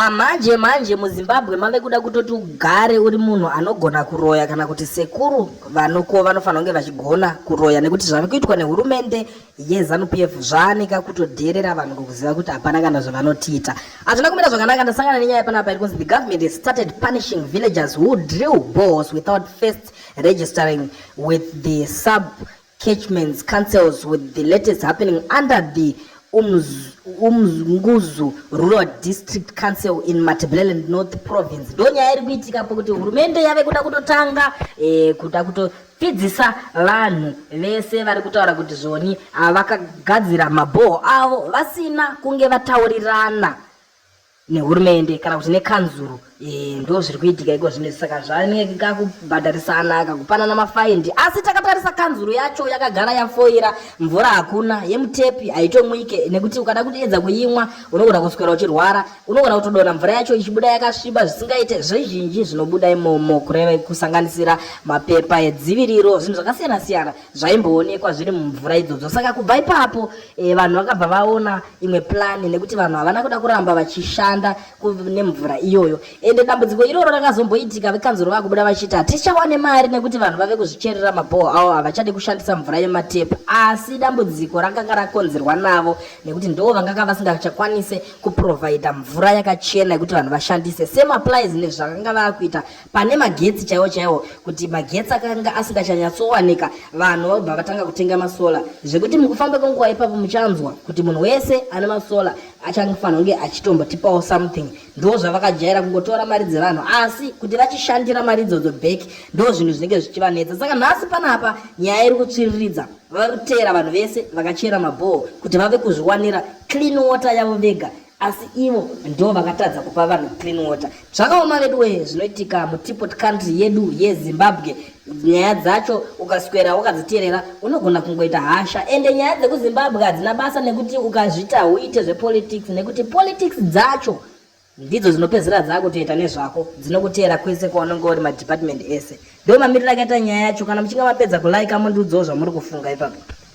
Ah, manje manje muzimbabwe mave kuda kutoti ugare uri munhu anogona kuroya kana kuti sekuru vanoko vanofanira kunge vachigona kuroya nekuti zvave kuitwa nehurumende yezanupf zvaaneka kutodheerera vanhu kukuziva kuti hapana kana zvavanotiita hazvina kumira zvakanaka ndasangana nenyaya panapa iri kunzi the government has started punishing villagers who drill balls without first registering with the sub catchments, councils with the latest happening under the umnguzu um, rural district council in matabeleland north province ndo nyaya iri kuitika pokuti hurumende yave kuda kutotanga eh, kuda kutopfidzisa vanhu vese vari kutaura kuti zvoni ah, vakagadzira mabhoho avo vasina kunge vataurirana nehurumende kana kuti nekanzuru eh, ndo zviri kuitika iko zvino saka zvaneka kubhadharisana kakupanana mafaindi asi takatarisa kanzuru yacho yakagara yafoira mvura hakuna yemutepi haitomwike nekuti ukada kutiedza kuimwa unogona kuswera uchirwara unogona kutodona mvura yacho ichibuda yakasviba zvisingaite zvizhinji zvinobuda imomo kureva kusanganisira mapepa edziviriro zvinhu zvakasiyana siyana zvaimboonekwa zviri mumvura idzodzo saka kubva ipapo e, vanhu vakabva vaona imwe plani nekuti vanhu havana kuda kuramba vachishanda nemvura iyoyo ende dambudziko iroro rakazomboitika vekanzuro vakubuda vachiti hatichawane mari nekuti vanhu vave kuzvicherera mabhoho avo havachade kushandisa mvura yematepu asi dambudziko rakanga rakonzerwa navo nekuti ndoo vanganga vasingachakwanise kuprovhaidha mvura yakachena yekuti vanhu vashandise semaplies nezvakanga vakuita pane magetsi chaiwo chaiwo kuti magetsi akanga asingachanyatsowanika vanhu vobva vatanga kutenga masola zvekuti mukufamba kwenguva ipapo muchanzwa kuti munhu wese ane masola achangofanira kunge achitombotipawo something ndo zvavakajaira kungotora mari dzevanhu asi kuti vachishandira mari idzodzo back ndo zvinhu zvinenge zvichivanetsa saka nhasi panapa nyaya iri kutsviriridza vari kutera vanhu vese vakachera mabhoho kuti vave kuzviwanira clean water yavo vega asi ivo ndo vakatadza kupa vanhu clean water zvakaoma veduwee zvinoitika mutipot country yedu yezimbabwe nyaya dzacho ukaswera wakadziteerera unogona kungoita hasha ende nyaya dzekuzimbabwe hadzina basa nekuti ukazvita uite zvepolitics nekuti politics dzacho ndidzo dzinopedzera dzakutoita nezvako dzinokuteera kwese kwaunenge uri madepartment ese ndo mamiriro akaita nyaya yacho kana muchinge mapedza kulaika mundiudzawo zvamuri kufunga ipapo